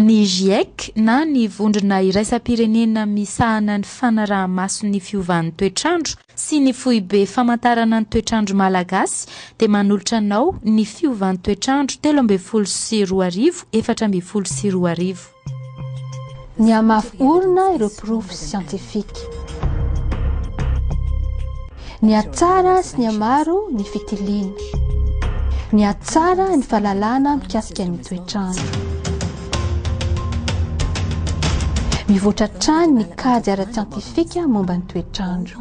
Ny Giec na ny Vondrona Iraisam-pirenena Misahana ny Fanaraha-maso ny Fiovan'ny Toetrandro sy ny Foibe Famantarana ny Toetrandro Malagasy dia manolotra anao ny Fiovan'ny Toetrandro telo ambin'ny folo sy roa arivo efatra ambin'ny folo sy roa arivo. Nihamafy orina ireo porofo siantifika. Nihatsara sy nihamaro ny fitiliana. Nihatsara ny fahalalana mikasika ny toetr'andro. Mivoatra hatrany ny kajy ara-tsiantifika momba ny toetr'andro.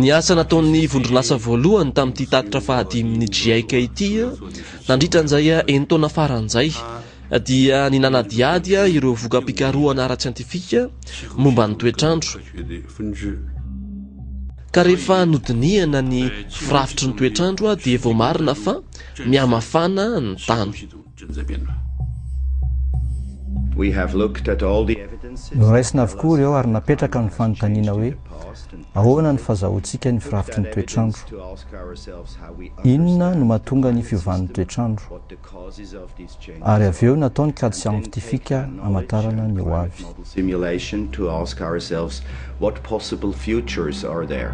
Ny asa nataon'ny vondron'asa voalohany tamin'ity tatitra fahadimin'ny GIEC ity nandritra an'izay enin-taona farany izay dia ny nanadihady ireo voka-pikarohana ara-tsiantifika momba ny toetr'andro ka rehefa nodinihana ny firafitry ny toetr'andro dia voamarina fa mihamafana ny tany. Noraisina avokoa ireo ary napetraka ny fanontaniana hoe, Ahoana ny fazahoantsika ny firafitry ny toetrandro? Inona no mahatonga ny fiovan'ny toetrandro? Ary avy eo natao ny kajy siantifika hamatarana ny hoavy. Simulation to ask ourselves what possible futures are there.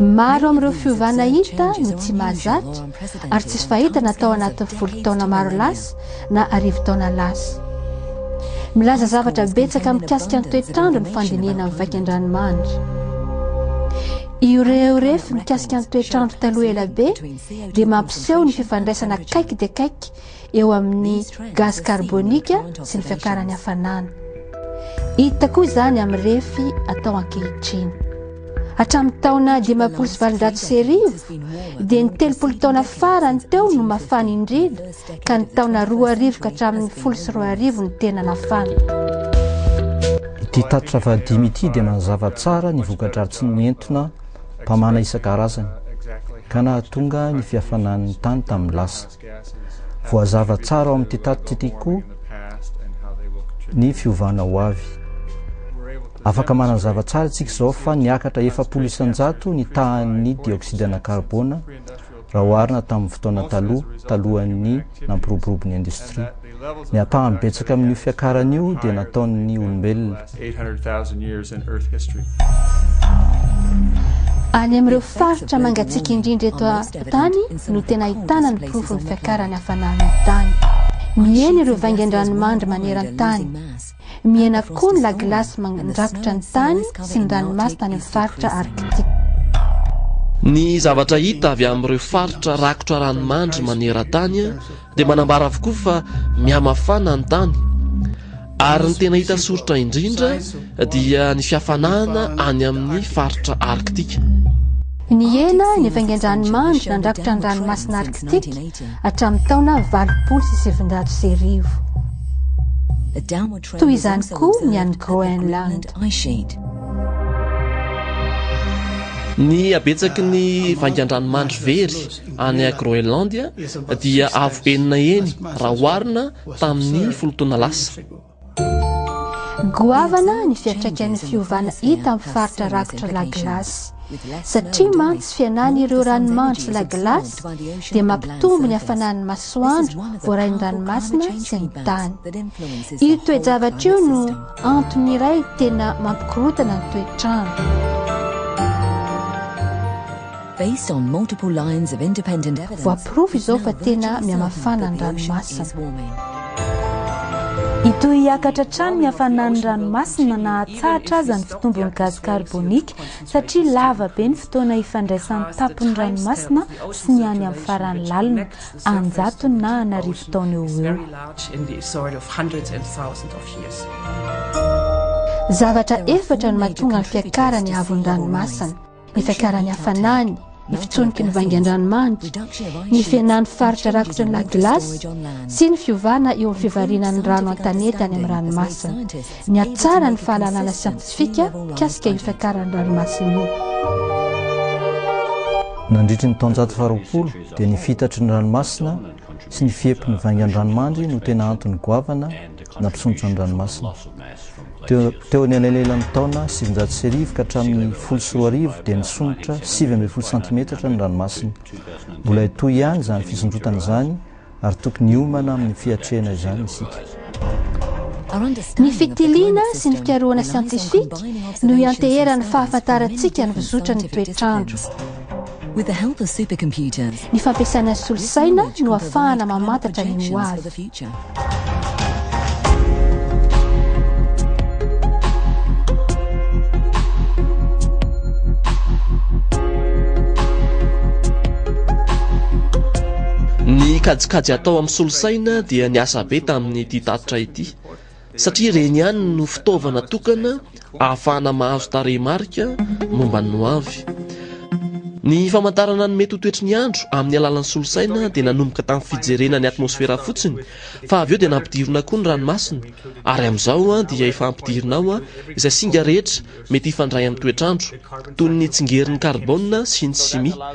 Maro amin'ireo fiovana hita no tsy mahazatra ary tsisy fahitana tao anatin'ny folo taona maro lasa na arivo taona lasa. Milaza zavatra betsaka mikasika ny toetr'andro ny fandinihana amin'ny vaikan-dranomanitra. Ireo refy mikasika ny toetr'andro taloha ela be dia mampiseho ny fifandraisana akaiky dia akaiky eo amin'ny gazy karbonika sy ny fiakaran'ny hafanana. Hita koa izany amin'ny refy atao ankehitriny. Hatramin'ny taona dimampolo sy valonjato sy arivo dia ny telopolo taona farany teo no mafana indrindra ka ny taona roa arivo ka hatramin'ny folo sy roa arivo ny tena mafana. Ity tatitra fahadimy ity dia manazava tsara ny voka-dratsiny nentina mpamana isan-karazany, ka nahatonga ny fihafanan'ny tany tamin'ny lasa. Voazava tsara ao amin'ity tatitra ity koa ny fiovana ho avy. Afaka manazava tsara isika izao fa niakatra efapolo isan-jato ny tahan'ny dioxyde na karbona raha oharina tamin'ny fotoana taloha, talohan'ny nampiroborobo ny indostria. Ny ampahany betsaka amin'io fiakarana io dia nataon'ny olombelona. Any amin'ireo faritra mangatsiaka indrindra eto an-tany no tena ahitana ny porofon'ny fiakaran'ny hafanan'ny tany. Mihena ireo vaingan-dranomandry maneran-tany. Mihena koa ny lagilasy mandrakotra ny tany sy ny ranomasina any amin'ny faritra Arktika. Ny zavatra hita avy amin'ireo faritra rakotra ranomandry maneran-tany dia manambara avokoa fa mihamafana ny tany, ary ny tena hita soritra indrindra dia ny fihafanahana any amin'ny faritra Arktika. Nihena ny hafaingan-dranomandry nandrakotra ny ranomasina Arktika hatramin'ny taona valopolo sy sivinjato sy arivo. Toy izany koa ny an'i Groenland. Ny habetsaky ny vaingan-dranomandry very any Groenlandia dia avo enina heny raha oharina tamin'ny folo taona lasa. Goavana ny fiantraikan'ny fiovana hita amin'ny faritra rakotra La Glace. Satria mantsy fihenan'ireo ranomanitry La Glace dia mampitombo ny hafanan'ny masoandro voarain'ny ranomasina sy ny tany. Io toe-javatra io no antony iray tena mampikorontana ny toetr'andro. Voaporofo izao fa tena mihamafana ny ranomasina. Hitohy hiakatra hatrany ny hafanan'ny ranomasina na hatsahatra aza ny fitombon'ny gaz carbonique satria lava be ny fotoana hifandraisan'ny tampon'ny ranomasina sy ny any amin'ny farany lalina, an-jatony na an' arivo taona eo ho eo. Zavatra efatra no mahatonga ny fiakaran'ny haavon'ny ranomasina. Nitantara ny hafanany, ny fitsoniky ny vaingan-dranomanitra, ny fihenan'ny faritra rakotra ny lac glace sy ny fiovana eo amin'ny fivarinan'ny rano an-tanety any amin'ny ranomasina. Nihatsara ny fahalalana siantifika mikasika io fiakaran'ny ranomasina io. Nandritry ny taonjato faharoapolo dia ny fihitatry ny ranomasina sy ny fihepin'ny vaingan-dranomandry no tena antony goavana nampisondrotra ny ranomasina. Teo amin'ny anelanelan'ny taona sivinjato sy arivo ka hatramin'ny folo sy roa arivo dia nisondrotra sivy ambin'ny folo santimetatra ny ranomasina. Mbola hitohy ihany izany fisondrotana izany ary tokony hiomana amin'ny fiatrehana izany isika. Ny fitiliana sy ny fikarohana siantifika no ianteheran'ny fahafantarantsika ny fizotran'ny toetr'andro. With the help of supercomputers, Ny fampiasana solosaina no ahafahana mamantatra ny ho avy. Ny kajikajy atao amin'ny solosaina dia niasa be tamin'ity tatitra ity. satria ireny ihany no fitaovana tokana ahafahana mahazo tarehimarika momba ny ho avy. Ny famantarana ny mety ho toetry ny andro amin'ny alalan'ny solosaina dia nanomboka tamin'ny fijerena ny atmosfera fotsiny, fa avy eo dia nampidirina koa ny ranomasina, ary amin'izao dia efa ampidirina ao izay singa rehetra mety hifandray amin'ny toetr'andro, toy ny tsingerin'ny karbona sy ny simia.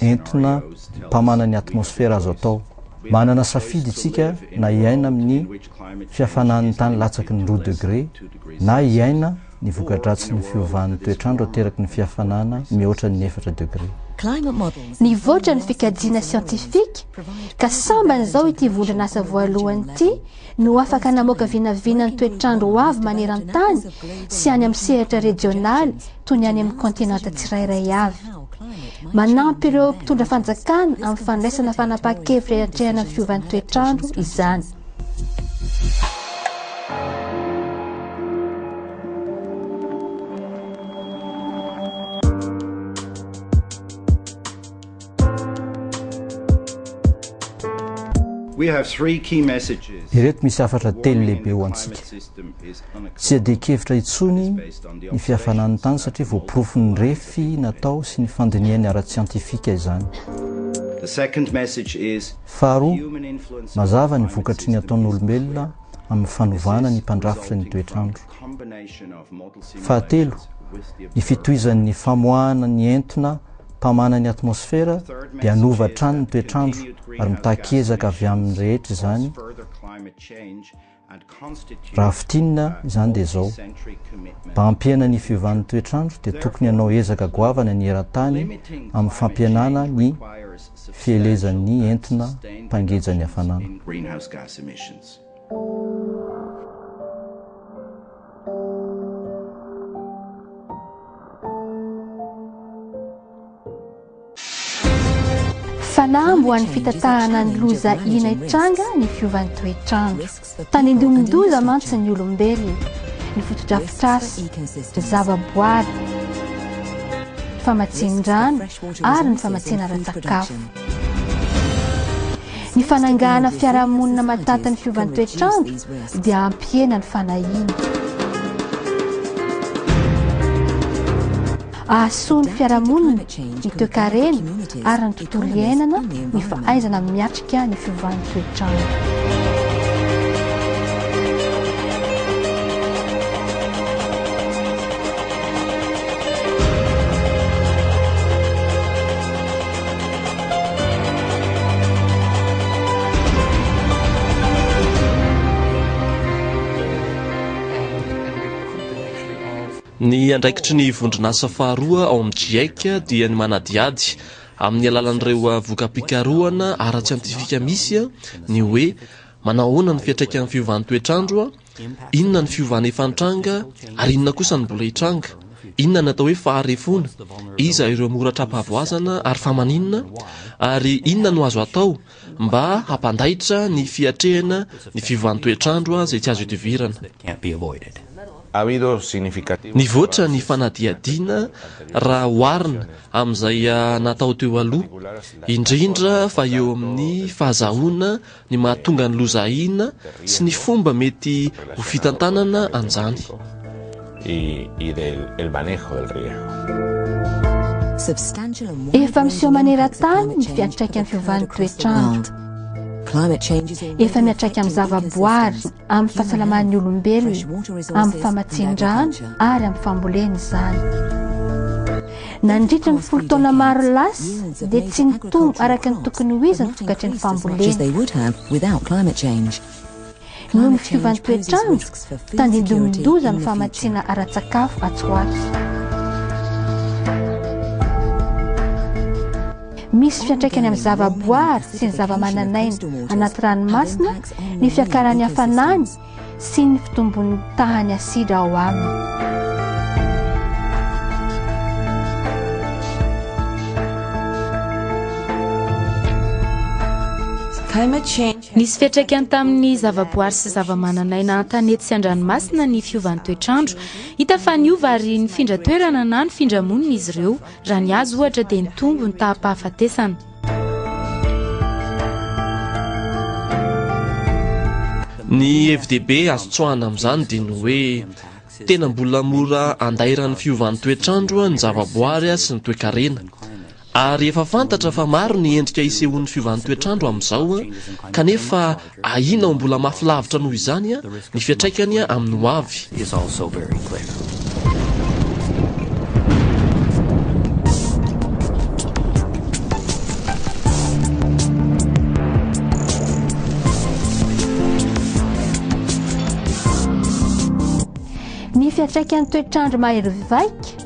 entina mpamana ny atmosfera azo atao. Manana safidy isika na hiaina amin'ny fihafanan'ny tany latsaky ny roa degre na hiaina ny voka-dratsin'ny fiovan'ny toetr'andro ateraky ny fihafanana mihoatra ny efatra degre. Nivoatra ny fikajiana siantifika ka sambany izao ity vondron'asa voalohany ity no afaka namoaka vinavina ny toetr'andro ho avy maneran-tany sy any amin'ny sehatra rejionaly toy ny any amin'ny kontinanta tsirairay avy. Manampy ireo mpitondra fanjakana amin'ny fandraisana fanapahan-kevitra hiatrehana ny fiovan'ny toetr'andro izany. Ireto misy hafatra telo lehibe ho antsika. Tsy iadian-kevitra intsony ny fihafanan'ny tany satria voaporofon'ny refy natao sy ny fandinihany ara-tsiantifika izany. Faharoa, mazava ny vokatry ny ataon'olombelona amin'ny fanovana ny mpandrafitra ny toetr'andro. Fahatelo, ny fitohizan'ny famoahana ny entona mpamana ny atmosfera dia hanova hatrany ny toetr'andro ary mitaky ezaka avy amin'ny rehetra izany, raha fintinina izany dia izao, mba hampihena ny fiovan'ny toetr'andro dia tokony hanao ezaka goavana ny eran-tany amin'ny fampihenana ny fielezan'ny entona mpangeja ny hafanana. Fanahy mbo an'ny fitatahana ny loza ina hitranga ny fiovan'ny toetr'andro. Tanindomin-doza mantsy ny olombelona, ny fotodrafitrasa, ny zavaboary, ny famatsian-drano ary ny famatsiana ara-tsakafo. Ny fanangahana fiarahamonina mataty ny fiovan'ny toetrandro dia hampihena ny fanahiana. Ahasoa ny fiarahamonina, ny toekarena ary ny tontolo iainana ny fahaizana miatrika ny fiovan'ny toetrandro. Ny andraikitry ny vondron'asa faharoa ao amin'ny GIEC dia ny manadihady amin'ny alalan'ireo voka-pikarohana ara-tsiantifika misy ny hoe manao ahoana ny fiantraikan'ny fiovan'ny toetr'andro Inona ny fiovana efa nitranga, ary inona kosa no mbola hitranga? Inona ny atao hoe faharefoana? Iza ireo mora tra-pahavoazana ary fa maninona? Ary inona no azo atao mba hampandaitra ny fiatrehana ny fiovan'ny toetr'andro izay tsy azo idivirana? Nivoatra ny fanadihadiana raha oharina amin'izay natao teo aloha, indrindra fa eo amin'ny fahazahoana ny mahatonga ny loza ahiana sy ny fomba mety ho fitantanana an'izany. Efa miseho maneran-tany ny fiantraikan'ny fiovan'ny toetr'andro. Efa miantraika amin'ny zavaboary. amin'ny fahasalaman'ny olombelona, amin'ny famatsian-drano ary amin'ny fambolena izany. Nandritra ny folo taona maro lasa dia tsy nitombo araka ny tokony ho izy ny vokatry ny fambolena. Noho ny fiovan'ny toetrandro, tandindomin-doza ny famatsiana ara-tsakafo atsy ho atsy. Misy fiantraikany amin'ny zavaboary sy ny zavamananaina anaty ranomasina ny fiakaran'ny hafanany sy ny fitombon'ny tahan'ny asidra ao aminy. Nisy fiantraikany tamin'ny zavaboary sy zavamananaina an-tanety sy an-dranomasina ny fiovan'ny toetr'andro. Hita fa niova ary nifindra toerana na nifindra monina izy ireo. Raha ny azy ohatra dia nitombo ny taha-pahafatesana. Ny hevi-dehibe azo tsoahana amin'izany dia ny hoe tena mbola mora andairan'ny fiovan'ny toetr'andro ny zavaboary sy ny toekarena. Ary efa fantatra fa maro ny endrika isehoan'ny fiovan'ny toetr'andro amin'izao kanefa Ahiana ho mbola mafy lavitra noho izany ny fiantraikany amin'ny hoavy. Ny fiantraikan'ny toetr'andro mahery vaika.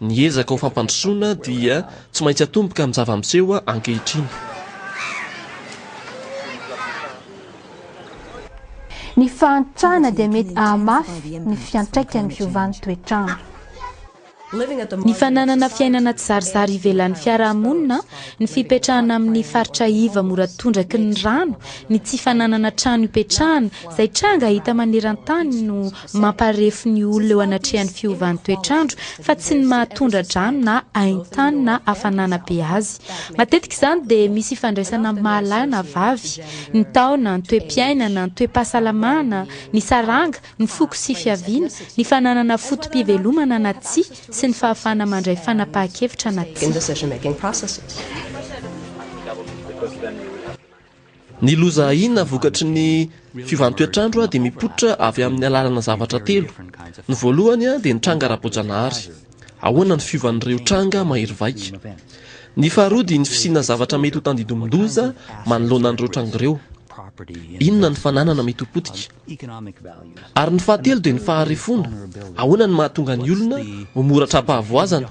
Ny ezaka ho fampandrosoana dia tsy maintsy atomboka amin'ny zava-miseho ankehitriny. Ny fahantrana dia mety hahamafy ny fiantraikan'ny fiovan'ny toetr'andro. Ny fananana fiainana tsizarizary ivelan'ny fiarahamonina, ny fipetrahana amin'ny faritra iva mora tondraky ny rano, ny tsy fananana trano ipetrahana, izay tranga hita maneran-tany no Mamparefo ny olona eo anatrehan'ny fiovan'ny toetr'andro fa tsy ny maha tondra-drano na hain-tany na hafanana be azy. Matetika izany dia misy ifandraisana amin'ny maha lahy na vavy, ny taona, ny toe-piainana, ny toe-pahasalamana, ny saranga, ny foko sy fiaviana, ny fananana foto-pivelomana na tsia sy ny fahafahana mandray fanapahan-kevitra na tsia. Ny loza ahiana vokatry ny fiovan-toetr'andro dia mipoitra avy amin'ny alalana zavatra telo. Ny voalohany dia ny tranga ara-boajanahary. Ahoana ny fiovan'ireo tranga mahery vaika? Ny faharoa dia ny fisiana zavatra mety ho tandindomin-doza manoloana an'ireo tranga ireo. Inona ny fananana mety ho potika? Ary ny fahatelo dia ny faharefoana. Ahoana no mahatonga ny olona ho mora tra-pahavoazana?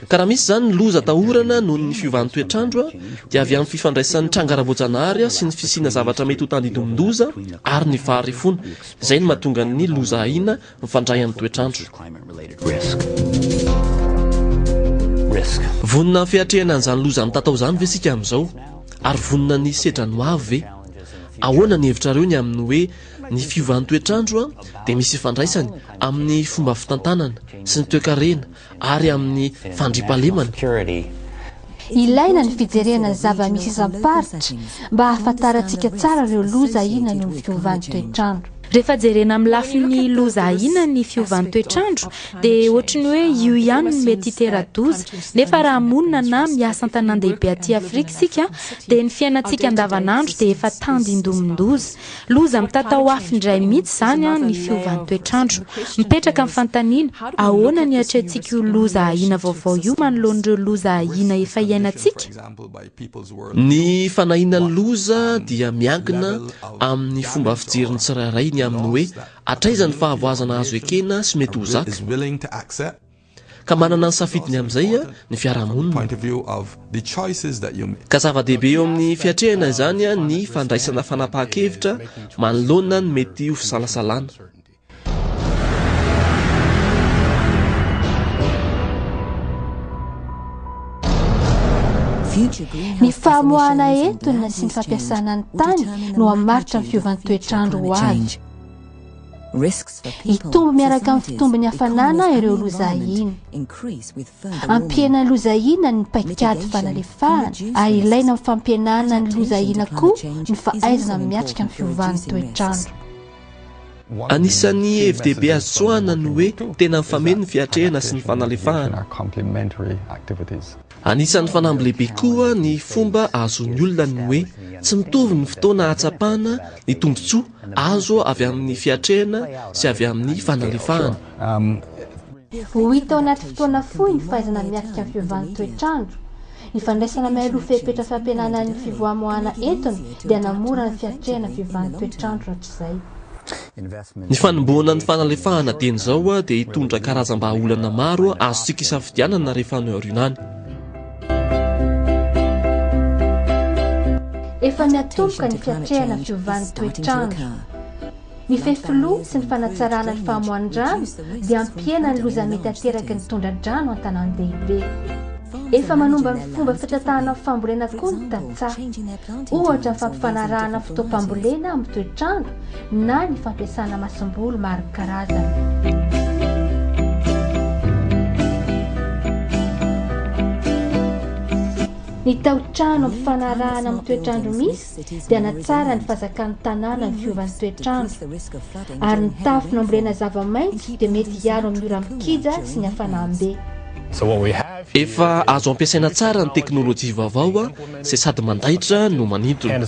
Ka raha misy izany ny loza atahorana noho ny fiovan'ny toetr'andro dia avy amin'ny fifandraisan'ny tranga ara-boajanahary sy ny fisiana zavatra mety ho tandindomin-doza ary ny faharefoana. Izay no mahatonga ny loza ahiana Mifandray amin'ny toetr'andro. Vonona ny fiatrehana an'izany loza mitatao izany ve isika amin'izao? Ary vonona ny hisedra ny hoavy ve? Ahoana ny hevitrareo ny amin'ny hoe ny fiovan'ny toetr'andro dia misy ifandraisany amin'ny fomba fitantanana sy ny toekarena ary amin'ny fandriampahalemana. Ilaina ny fijerena ny zava-misy isam-paritra mba hahafantarantsika tsara ireo loza ahiana noho ny fiovan'ny toetr'andro. Rehefa jerena amin'ny lafiny loza ahiana ny fiovan'ny toetr'andro dia ohatry ny hoe io ihany no mety hitera-doza, nefa raha monina na miasa an-tanàn-dehibe aty Afrika isika dia ny fiainantsika andavanandro dia efa tandindomin-doza. Loza mitatao afo indray mihitsy izany an ny fiovan'ny toetr'andro. Mipetraka ny fantaniana, ahoana ny iatrehantsika io loza ahiana vaovao io manoloan'ireo loza ahiana efa iainantsika? Ny fanahiana ny loza dia miankina amin'ny fomba fijerin'ny tsirairay ny amin'ny hoe hatraiza ny fahavoazana azo ekena sy mety ho zaka. Ka manana ny safidiny amin'izay ny fiarahamonina. Ka zava-dehibe eo amin'ny fiatrehana izany ny fandraisana fanapahan-kevitra manoloana ny mety ho fisalasalana. Ny famoahana entona sy ny fampiasana ny tany no hamaritra ny fiovan'ny toetr'andro ho avy. Hitombo miaraka amin'ny fitombon'ny hafanana ireo loza ahiana. Ampihenana ny loza ahiana ny paikady fanalefahana, ary ilaina amin'ny fampihenana ny loza ahiana koa ny fahaizana miatrika ny fiovan'ny toetrandro. Anisan'ny hevi-dehibe azo tsoahina ny hoe tena mifameno ny fiatrehana sy ny fanalefahana. Anisan'ny fanamby lehibe koa ny fomba ahazoan'ny olona ny hoe tsy mitovy ny fotoana ahatsapana ny tombontsoa azo avy amin'ny fiatrehana sy avy amin'ny fanalefahana. Ho hita ao anaty fotoana fohy ny fahaizana miatrika ny fiovan'ny toetr'andro. Ny fandraisana mialoha fepetra fampihenana ny fivoamoahana entona dia hanamora ny fiatrehana ny fiovan'ny toetr'andro rahatrizay. Ny fanombohana ny fanalefahana dieny izao dia hitondra karazam-bahaolana maro azontsika isafidianana rehefa any aoriana any. Efa miatomboka ny fiatrehana fiovan'ny toetr'andro. Ny fefiloha sy ny fanatsarana ny famoahan'ny rano dia hampihena ny loza mety ateraky ny tondra-drano an-tanàn-dehibe. Efa manomba ny fomba fitantanana fambolena koa ny tantsaha. Ohatra ny fampifanarahana fotoam-pambolena amin'ny toetr'andro na ny fampiasana masomboly maro karazana. Ny taotrano mifanarahana amin'ny toetrandro misy dia natsara ny fazakan'ny tanàna ny fiovan'ny toetrandro ary ny tafo nambolena zava-maitso dia mety hiaro amin'ny ora mikija sy ny hafanam-be. Efa azo ampiasaina tsara ny teknolojia vaovao izay sady mandaitra no manintona.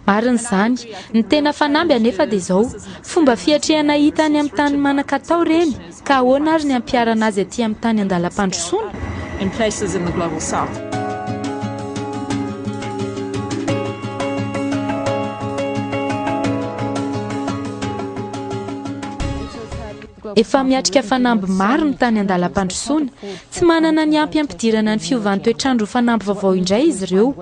Marina izany. Ny tena fanamby anefa dia izao, fomba fiatrehana hita any amin'ny tany manan-katao ireny, ka ahoana ary ny hampiharana azy aty amin'ny tany an-dalam-pandrosoana? in places in the global south. Efa miatrika fanamby maro ny tany an-dalam-pandrosoana. Tsy manana ny ampy hampidirana ny fiovan'ny toetrandro ho fanamby vaovao indray izy ireo.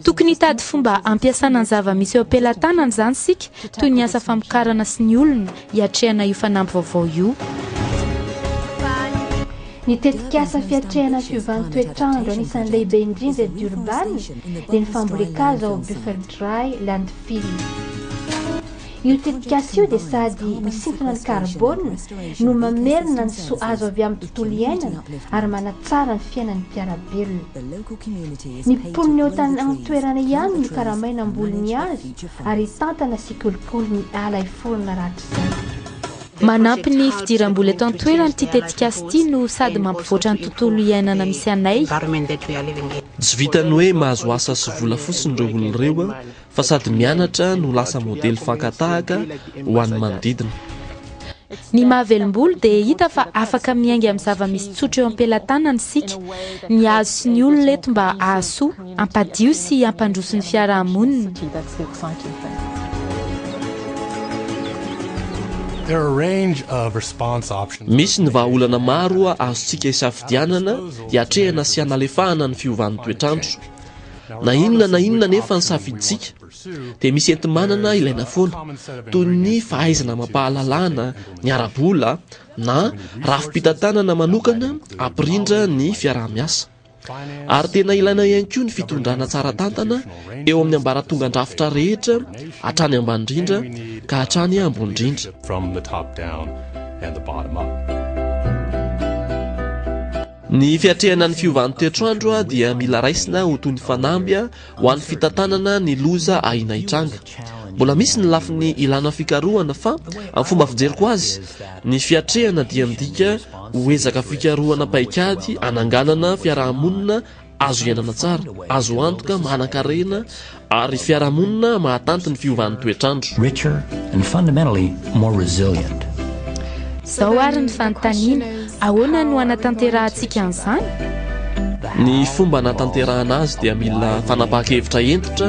Tokony hitady fomba hampiasana ny zava-misy eo am-pelatanana izany isika, toy ny asa famokarana sy ny olona, hiatrehana io fanamby vaovao io. Ny tetikasa fiatrehana ny fiovan'ny toetrandro anisan'ny lehibe indrindra eto Durban dia ny fambolen-kazo ao Buffel Dry Landfill. Io tetikasa io dia sady misintona ny karbôna no mamerina ny soa azo avy amin'ny tontolo iainana ary manatsara ny fiainan'ny mpiara-belona. Ny mponina eo an-toerana ihany no karamaina hamboly ny hazo ary hitantana sy hikolokolo ny ala hiforona rahatrizay. Manampy ny fidiram-bola eto an-toerana ity tetikasa ity no sady mampivoatra ny tontolo iainana misy anay. Tsy vitan'ny hoe mahazo asa sy vola fotsiny ireo olona ireo fa sady mianatra no lasa modely fankatahaka ho an'ny manodidina. Ny mahavelombolo dia hita fa afaka miainga amin'ny zava-misy tsotra eo am-pelatanana isika. Ny azo sy ny olona eto mba hahasoa, hampadio sy hampandroso ny fiarahamonina. Misy ny vahaolana maro azontsika isafidianana hiatrehana sy hanalefahana ny fiovan'ny toetr'andro. Na inona na inona anefa ny safidintsika, dia misy enti-manana ilaina foana, toy ny fahaizana amam-pahalalana, ny ara-bola, na rafi-pitantanana manokana hampirindra ny fiaraha-miasa. Ary tena ilaina ihany koa ny fitondrana tsara tantana eo amin'ny ambaratongan-drafitra rehetra, hatrany ambany indrindra ka hatrany ambony indrindra. Ny fiatrehana ny fiovan'ny toetr'andro dia mila raisina ho toy ny fanamby ho an'ny fitantanana ny loza ahiana hitranga. Mbola misy ny lafiny ilana fikarohana fa amin'ny fomba fijeriko azy, ny fiatrehana dia midika ho ezaka fikarohana paikady hananganana fiaraha-monina azo iainana tsara, azo antoka, manan-karena ary fiarahamonina mahatanty ny fiovan'ny toetr'andro. richer and fundamentally more resilient. Izao ary ny fanontaniana, ahoana no hanatanterahantsika an'izany? Ny fomba hanatanterahana azy dia mila fanapahan-kevitra hentitra,